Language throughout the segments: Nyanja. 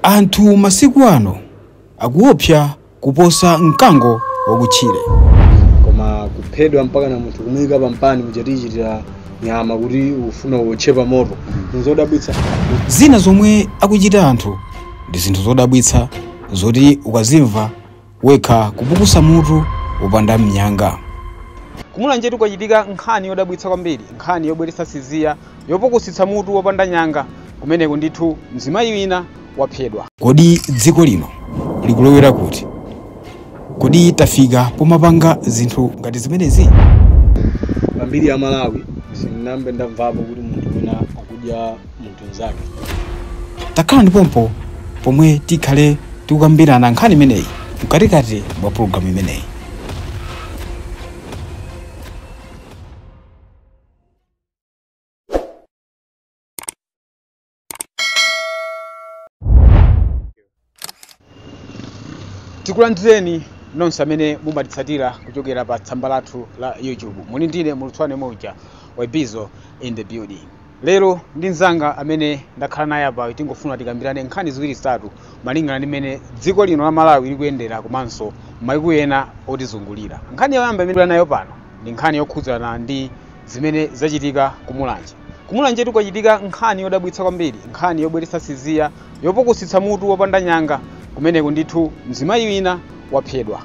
Anthu masiku ano akuopsa kuposa mkango wakutchire. koma kuphedwa mpaka na munthu kumuyika pa mpani muja tichitira nyama kuti ukufuna uwotche pa moto nzodabwitsa Zina zomwe akuchita anthu ndi zinthu zodabwitsa zoti ukazimva wekha kupukusa mutu wopanda mnyanga kumulanjetu kwachitika nkhani yodabwitsa kwambiri nkhani yobweretsa tsiziya yopukusitsa mutu wopanda nyanga kumeneko ndithu mzimayi wina waphedwa kodi dziko lino likulowera kuti kodi tafika pomapanga zinthu ngati zimenezi pambiri ya malawi sindinambe ndamvapo kuti munthu wina akudya munthu mnzake takhala ndi pompo pomwe tikhale tikukambirana nkhani imeneyi mkatikati mwa pulogalamu imeneyi tikulandireni nonse amene mumatitsatira kuchokera pa tsamba lathu la youtube muli ndi ine mulutswane moja wabizo in the building lero ndi mzanga amene ndakhala naye apayu tingofuna tikambirane nkhani ziwiri zitatu malingana ndi mmene dziko lino la malawi likuyendera komanso maiko ena otizungulira nkhani yoyamba imene tili nayo pano ndi nkhani yokhudzana ndi zimene zachitika ku mulanje Kumulanjetu kwachitika nkhani yodabwitsa kwambiri, nkhani yobweretsa tsiziya, yopukusitsa mutu wopanda nyanga. Kumeneku ndithu mzimayi wina waphedwa.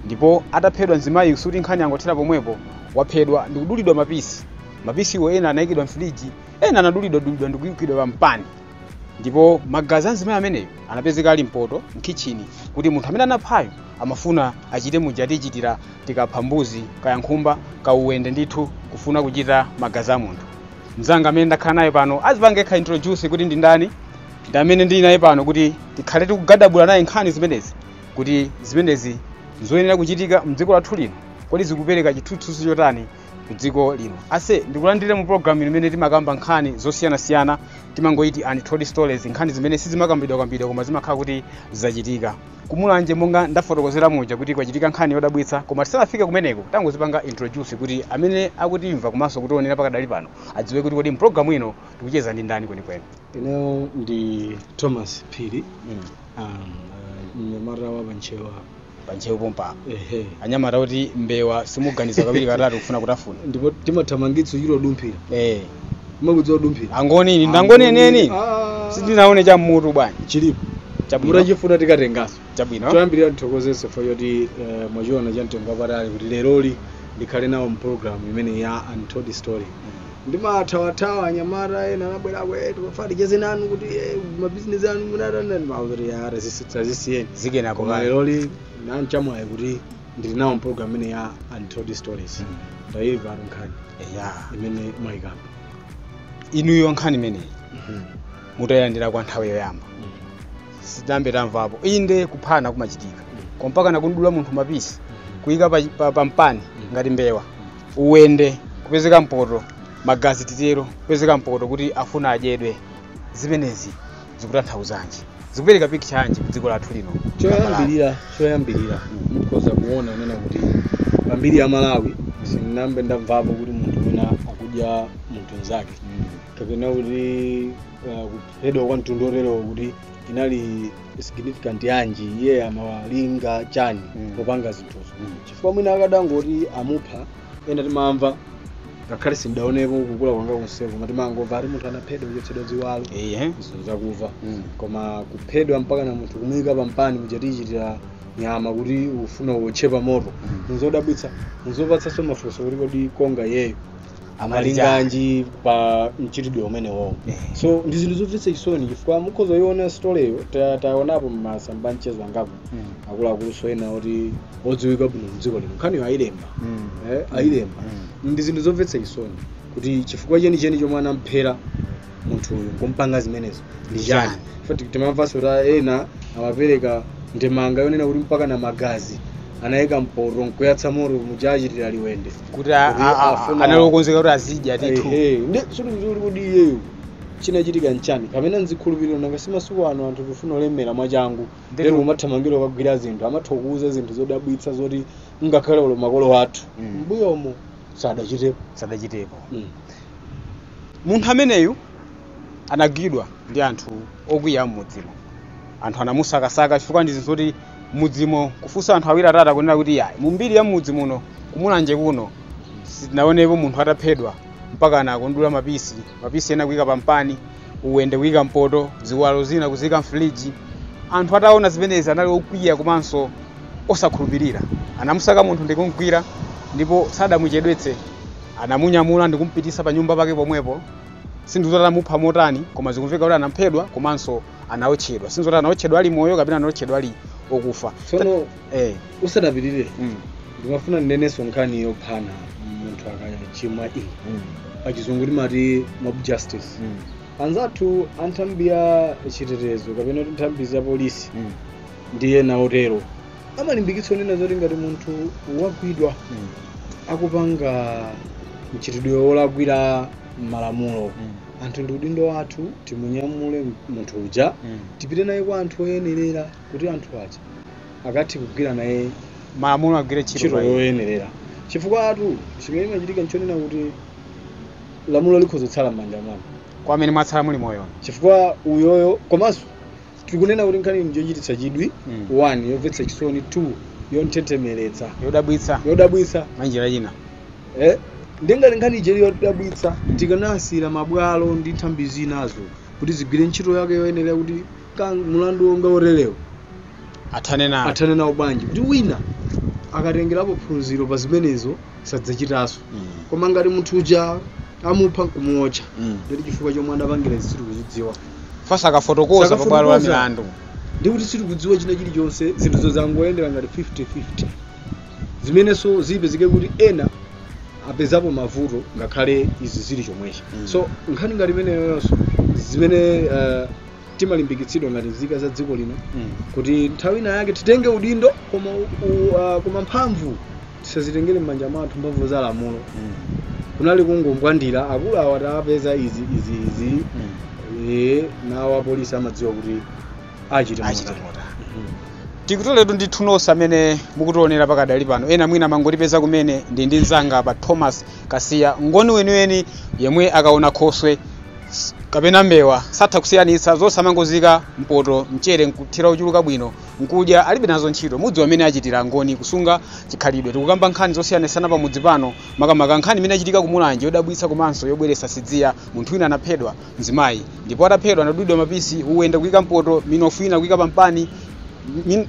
Ndipo ataphedwa mzimayiyu sikuti nkhani yangothera pomwepo, waphedwa ndikudulidwa mapisi. Mapisiwo ena anayikidwa mfiliji, ena anadulidwa dulidwa ndikuikidwa pa mpani. ndipo magazi a mzimayi ameneyo anapezeka ali mpoto mkhichini kuti munthu amene anaphayo amafuna achite muja tichitira tikapha mbuzi kaya nkhumba kauwende ndithu kufuna kuchita magazi a munthu mzanga amene ndakhala naye pano azipange yekha introduce kuti ndi ndani ndi amene ndili naye pano kuti tikhale tikugadabula naye nkhani zimenezi kuti zimenezi zoyenera kuchitika mdziko lathu lino kodi zikupereka chithunzithunzi chotani ku dziko lino ase ndikulandire mu programu imene timakamba nkhani zosiyanasiyana timangoiti untold stories nkhani zimene sizimakambidwakambidwa koma zimakhala kuti zachitika kumulanje monga ndafotokozera muja kuti kwachitika nkhani yodabwitsa koma tisanafike kumeneko tangozipanga introduce kuti amene akutimva komanso kutionera pakadali pano adziwe kuti kodi mpulogalamu ino tikucheza ndi ndani kwenikweni ineyo ndi thomas phiri mnyamata wa pa Ntcheu pa Ntcheu pompa ehe anyamata kuti mbewa simuganiza kawiri katatu kufuna kutafuna ndipo timathamangitsa kuchita kudumphira eh mumakudziwa kudumphira angoni inu ndi angoni enieni Ah. sindinaone cha mmutu bwana chilipo chabwino mutachifuna tikatengaso chabwino toyambirira ndithokozenso for yoti eh, mwachiona cha mtengo wapatali kuti leroli ndikhale nawo mpulogalamu imeneyi ya untold story ndimathawathawa anyamata ena anabwerako eh, tikufuna ticheze nanu kuti eh, mabizinesi anu munatani mauzoti ara zisiyeni zikenako koma kale leroli nanchamwayi kuti ndili nawo mpulogalamu imene ya untold stories ndayimva atu nkhani ya imene mwayikamba inuyo nkhani imeneyi mutayilandira kwa nthawi yoyamba sitinambe tamvapo inde kuphana kumachitika koma mpakana kumdula munthu mapisi kuyika pa, pa, pa mpani ngati mbewa uwende kupezeka mpoto magazi titero kupezeka mpoto kuti afuna adyedwe zimenezi zikutanthauzanji zikupereka picture yanji ku dziko lathu lino choyambirira choyambirira mukhoza kuona kunena kuti pa mbiri ya malawi sindinambe ndamvapo kuti munthu wina akudya munthu mnzake kapena kuti uh, kuphedwa kwa mtundu oterewo kuti inali significant yanji iye amalinga chani Mm. popanga zinthuzo chifukwa mwina akadangoti amupha ena timamva ngakhale sindinaonepo kukula kwanga konseko koma timangomva ati munthu anaphedwa kuchotsedwa ziwalo ehe zinthu zakumva Mm. koma kuphedwa mpakana munthu kumuyika pampani muja timachitira nyama kuti ufuna uwotche pa moto nzodabwitsa nzopatsanso mafunso kuti kodi koma iyeyo amalinganji pa mchitidwe umenewowo Eh. so ndi zinthu zomvetsa chisoni chifukwa mukhoza kuyiona storyyo ta- taonapo m'masamba a mchezo angapo Mm. akuluakulunso ena kuti odziwika bwino mdziko lino nkhaniyo ayilemba Mm. eh, ayilemba Mm. ndi zinthu zomvetsa chisoni kuti chifukwa chenicheni chomwe anamphera munthu uyu kumpanga zimenezo ndi chani Chani? poti timamvanso kuti ena amapereka ndemanga yonena kuti mpakana magazi anayika mpoto nkuyatsa moto muja achitira uwende kuti a- Kuti a- a- afuna- anali okonzeka kuti azidya ndithu Ehe, ndi sikuti kuti iyeyo chinachitika nchani kapena nzikhulupiriro nanga si masiku ano anthu tifuna kulemera mwachangu Ndipo- lero umathamangira kukagwira zinthu amatha kukuuza zinthu zodabwitsa zoti ngakhale olo makolo athu Mm. mbuyomo sadachitepo sadachitepo Mm. Munthu ameneyu anagwidwa ndi anthu okwiya am'mudzimo. Anthu anamusakasaka chifukwa ndi zinthu zoti m'mudzimo kufunsa anthu awiri atatu akunena kuti iyayi, mu mbiri ya m'mudzi muno ku Mulanje kuno sitinaonepo munthu ataphedwa mpakana akum'dula mapisi, mapisi ena kuika pampani, uwende kuika m'poto, ziwalo zina kuziika m'firiji. Anthu ataona zimenezi anali okwiya komanso osakhulupirira. Anamusaka munthu ndi kum'gwira ndipo sadamuchedwetse. Anamunyamula ndi kumupitisa pa nyumba pake pomwepo. Sindidziwa kuti anamupha motani, koma zikumveka kuti anaphedwa komanso anaotchedwa. Sindidziwa kuti anaotchedwa ali moyo kapena anaotchedwa ali okufa. Tsono Eh, usanapitirire mm, ndimafuna ndinenenso nkhani yophana munthu akachimwa iyi mm, pachizungu timati mob justice mm, anzathu a nthambi ya chitetezo kapena kuti nthambi za polisi mm. ndi ena otero amalimbikitsa onena zoti ngati munthu wagwidwa Mm. akupanga mchitidwe wolakwira malamulo Mm. anthu ndi udindo wathu timunyamule munthu uja Mm. tipite naye kwa anthu oyenerera kuti anthu aja akathe kugwira naye malamulo agwire ntchito ntchito pa iye. yoyenerera chifukwatu chimene chimachitika nchonena kuti lamulo likhoza kutsala m'manja mwanu kwa amene mwatsala muli moyo chifukwa uyoyo komanso tikunena kuti nkhani ndi yochititsa chidwi Mm. 1 yomvetsa chisoni 2 yonthunthumiritsa yodabwitsa yodabwitsa mwanjira ina eh? ndingati nkhani ija ili yodabwitsa Mm. tikanasiyira mabwalo ndi nthambi zinazo kuti zigwire ntchito yake yoyenera kuti ka mulandu wonga woterewo athane nawo athane nawo bwanji kuti wina akatengerapo phunziro pa zimenezo sadzachitanso Mm. koma ngati munthu uja amupha nkumuotcha Mm. ndoti chifukwa chomwe anapangira izi sitikuchidziwa sakafotokoza Sakafotokoza. pabwalo la milandu ndi kuti sitikudziwa china chilichonse zinthu zozangoyendera ngati 50-50 zimenenso zipezeke kuti ena apezapo mavuto ngakhale izi zili chomwechi Mm. so nkhani ngati imeneyonso zimene eh, timalimbikitsidwa ngati nzika za dziko lino Mm. kuti nthawi ina yake titenge udindo koma, u, u, uh, koma mphamvu tisazitengere m'manja mwathu mphamvu za lamulo Mm. kunali kungombwandira akulu awa tapeza izi izi izi Mm. e, nawo apolisi amadziwa kuti achite achita motani. motani Mhm. tikutoletu ndithu nonse amene mukutionera pakadali pano ena mwina mwangotipeza kumene ndili ndi mzanga apa Thomas Kasiya ngoni weniweni yemwe akaona khoswe s- kapena mbewa satha kusiyanitsa zonse amangoziika mpoto mchere nkuthira ochuluka bwino Mkudya alibe nazo ntchito. Mudziwa mmene achitira Angoni kusunga chikhalidwe. Tikukamba nkhani zosiyanasiyana pamudzi pano, makamaka nkhani imene yachitika ku Mulanje yodabwitsa komanso yobweretsa tsidya. Munthu wina anaphedwa, mzimayi, ndipo ataphedwa anadulidwa mapisi, wina ndikuika mpoto, minofu ina kuika pampani,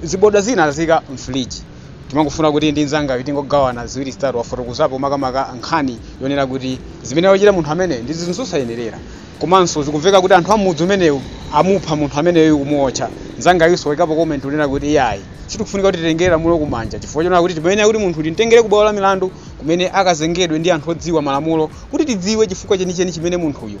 ziboda zina aziika m'filiji. Timangofuna kuti ndi mnzangayu tingogawana ziwiri zitatu. Wafotokozapo makamaka nkhani yonena kuti zimene wachita munthu ameneyu ndi zinthu zosayenerera. Komanso zikumveka kuti anthu a m'mudzi umenewu amupha munthu ameneyu, kumuwotcha. Mnzangayunso waikapo comment yonena kuti, Iyayi, sitikufunika kuti titengere lamulo kumanja chifukwa chonena kuti timayenera kuti munthuyu timtengere kubwalo la milandu kumene akazengedwe ndi anthu odziwa malamulo kuti tidziwe chifukwa chenicheni chimene munthuyu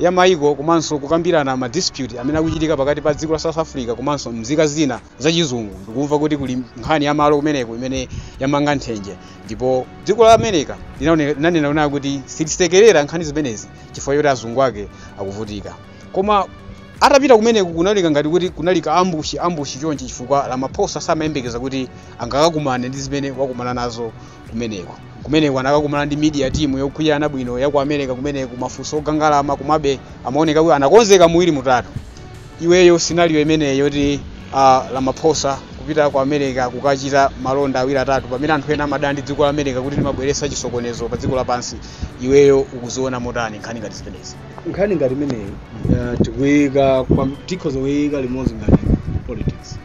ya mayiko komanso kukambirana ma dispute amene akuchitika pakati pa dziko la South Africa komanso mzika zina za chizungu. Ndikumva kuti kuli nkhani ya malo kumeneko imene yamanga nthenje ndipo dziko la America linaone- linanena kunena kuti sitisekerera nkhani zimenezi chifukwa choti azungu ake akuvutika. Koma atapita kumeneko kunali ka ngati kuti kunali ka ambushi ambushi chonchi chifukwa Ramaphosa samayembekeza kuti angakakumane ndi zimene wakumana nazo kumeneko kumeneko anakakumana ndi media team yokwiyana bwino ya ku america kumeneko mafunso ogangalama komabe amaoneka kuti anakonzeka muwiri mutatu iweyo scenario imeneyo yoti uh, ramaphosa kupita ku america kukachita malonda awiri atatu pamene anthu ena amadana ndi dziko la america kuti limabweretsa chisokonezo pa dziko lapansi iweyo ukuziona motani nkhani ngati zimenezi nkhani ngati imeneyi uh, tikuyika kwa- tikhoza kuyika limodzi ngati politics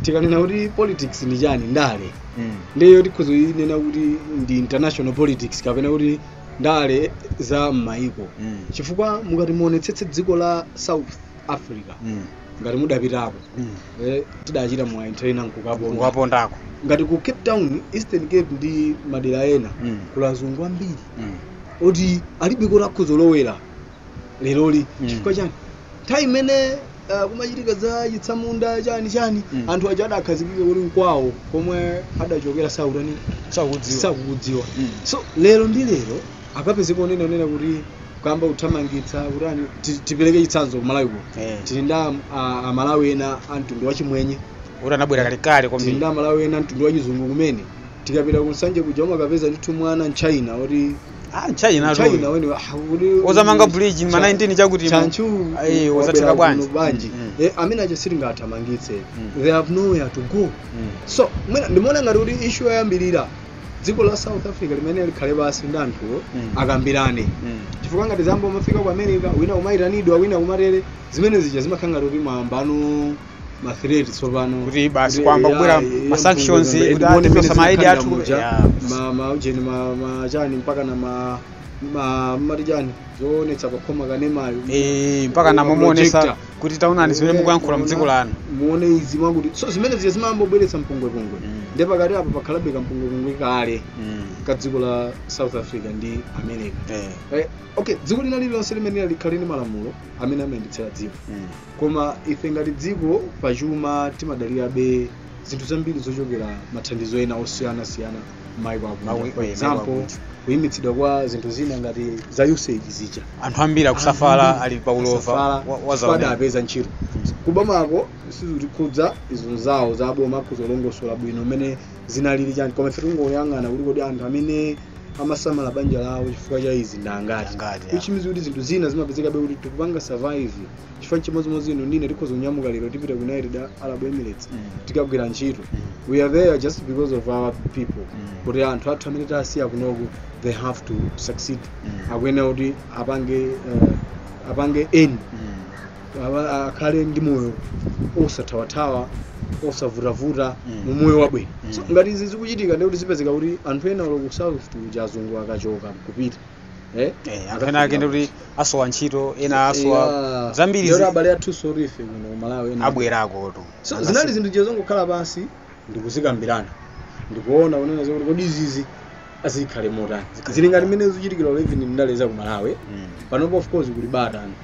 tikanena kuti politics ndi chani ndale mm. ndeyo tikhoza kuyinena kuti ndi international politics kapena kuti ndale za m'mayiko Mm. chifukwa mukati muonetsetse dziko la south africa Mm. ngati mudapitako Mm. eh, tidachita mwayi nthawi ina nkukaponda ukapondako ngati ku cape town eastern cape ndi madera ena Mm. kuli azungu ambiri Mm. oti alibe koti akhoza kulowera leroli Mm. chifukwa chani nthawi imene ah, kumachitika za chitsamunda chani chani Mm. anthu aja adakhazikika kuti nkwawo komwe adachokera sakutani sakudziwa sakukudziwa Mm. so lero ndi lero akapezeka onena onena kuti kuyamba kuthamangitsa kuti ani ti- tipereke chitsanzo kumalawi kuno Eh. tili ndi am- a- amalawi ena a mtundu wa chimwenye kuti anabwera kalekale tili kwambiri ndi amalawi ena a mtundu wa chizungu kumene tikapita ku nsanje kuja umakapeza ndithu mwana mchina kuti ah china tu china wene ozamanga bridge ma 19 chakuti chanchu ayi ozatheka bwanji bwanji Mm, Eh, amene aja sitingathamangitse Mm. they have nowhere to go mm. so mwina ndimaona ngati kuti ishu yoyambirira dziko la south africa limene likhale pansi ndi anthuwo Mm. akambirane Mm. chifukwa ngati zayamba kumafika ku america wina kumayitanidwa wina kumatere zimene zija zimakhala ngati kuti mwayambano ma threat tsopano kuti basi Kuti kuyamba AI, kubwera ya ma sanctions mpunga, kuti and muone atipesa mmene ma ID athu zikukhalira muja. Yeah. ma ma ujeni ma ma chani mpaka na ma ma mati chani zoonetsa pakhoma kanemayo Eh, mpaka na Ma kumuonesa projector. kuti taonani zimene mukuyankhula mu dziko lanu muone izi mwakuti so zimene zija zimayamba kubweretsa mpungwepungwe Mm. nde pakati apo pakhalabe kampungwepungwe kale Mm. ka dziko la south africa ndi america Eh, Eh, okay dziko lina lililonse limene likhale ndi malamulo amene amayendetsera dziko mm. koma ife ngati dziko pa chuma timadalirabe zinthu zambiri zochokera mathandizo ena osiyana siyana maiko Maiko- akunja for eh, example maiko akunja. kuyimitsidwa kwa zinthu zina ngati za usaid zija anthu ambiri akusafala ali pa ulova Kusafala, wa- wa chifukwa dzaoneni. adapeza ntchito kubomako sizitikhudza izo zawo za boma kuzilongosola bwino mmene zinalili chani koma ife tingoyang'ana kuti kodi anthu amene amasamala banja lawo chifukwa cha izi ndangati Ndangati, yeah. which means kuti zinthu zina zimapezekabe kuti tikupanga survive chifukwa chimodzimodzi inu ndi ine tikhoza kunyamuka lero tipita ku united arab emirates Mm. tikagwira ntchito Mm. we are there just because of our people Mm. kuti anthu athu amene tasiya kunoku they have to succeed Mm. akuyenera kuti apange eh, apange and Mm. Aba- a- akhale ndi moyo osathawathawa osavutavuta Mm. mu moyo wabwino Mm. so ngati izi zikuchitika ndikuti zipezeka kuti anthu ena olo ku south kuja azungu akachoka kupita eh Eh, anthu ena ake ndikuti asowa ntchito ena asowa Yeah. zambiri Lero zi- abale athu solife kuno ku Malawi ena abwerako tu so zinali zinthu je zongokhala pansi ndikuzikambirana ndikuona kunena zokuti kodi izizi azikhale motani Zikhale zili ngati motani. mmene zikuchitikira even ndale za ku malawi Mm. panopo of course kuli bata anthu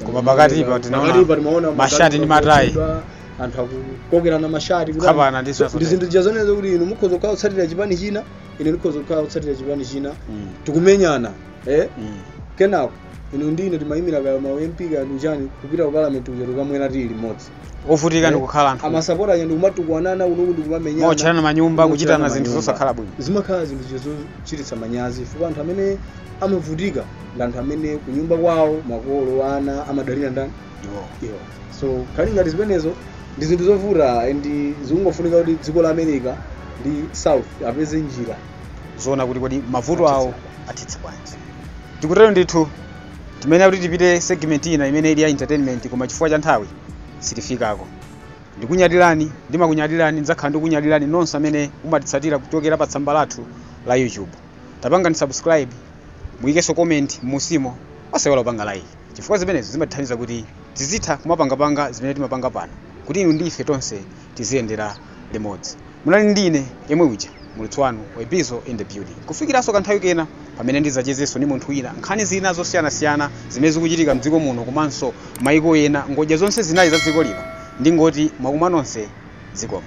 Koma pakati pa tinaona Pakati pa timaona mashati ndi matayi. akuchedwa, anthu akukokerana mashati kuti Kuphana ndi anthu- zinthu ndi zinthu zija zonena zokuti inu mukhoza kukhala kutsatira chipani china ine ndikhoza kukhala kutsatira chipani china Mm. tikumenyana eh? Mm. kenako inu ndi ine timayimira kaya ma mp kaya ndichani kupita ku parliament uja tikamwera tiyi limodzi ovutika ndikukhala anthu amasapota aja ndikumatukwanana kunoku ndikumamenyana kuotcherana manyumba kuchitana Kuotcherana zinthu manyumba. zosakhala bwino zimakhala zinthu zija zochititsa manyazi chifukwa anthu amene amavutika ndi anthu amene kunyumba kwawo makolo ana amadalira ndani iwowo iwo so zili ngati zimenezo ndi zinthu zovuta and zikungofunika kuti dziko la america ndi south apeze njira zoona kuti kodi mavuto awo athetsa bwanji tikutero ndithu timayenera kuti tipite ku segment ina imene ili ya entertainment koma chifukwa cha nthawi sitifikako ndikunyadirani ndimakunyadirani ndidzakhala ndikunyadirani nonse amene mumatitsatira kuchokera pa tsamba lathu la youtube tipangeni subscribe muyikenso comment m'musimo osaiwala kupanga like chifukwa zimenezo zimatithandiza kuti tizitha kumapangapanga zimene timapanga pano kuti inu ndi ife tonse tiziyendera limodzi. Munali ndi ine yemwe uja, muulutsi wanu, Webbizo in the building. Kufikiranso kanthawi kena pamene ndidzachezenso ndi munthu wina nkhani zina zosiyanasiyana zimene zikuchitika mdziko muno komanso maiko ena ngodya zonse zinayi za dziko lino, ndingoti mwakuma nonse, zikomo.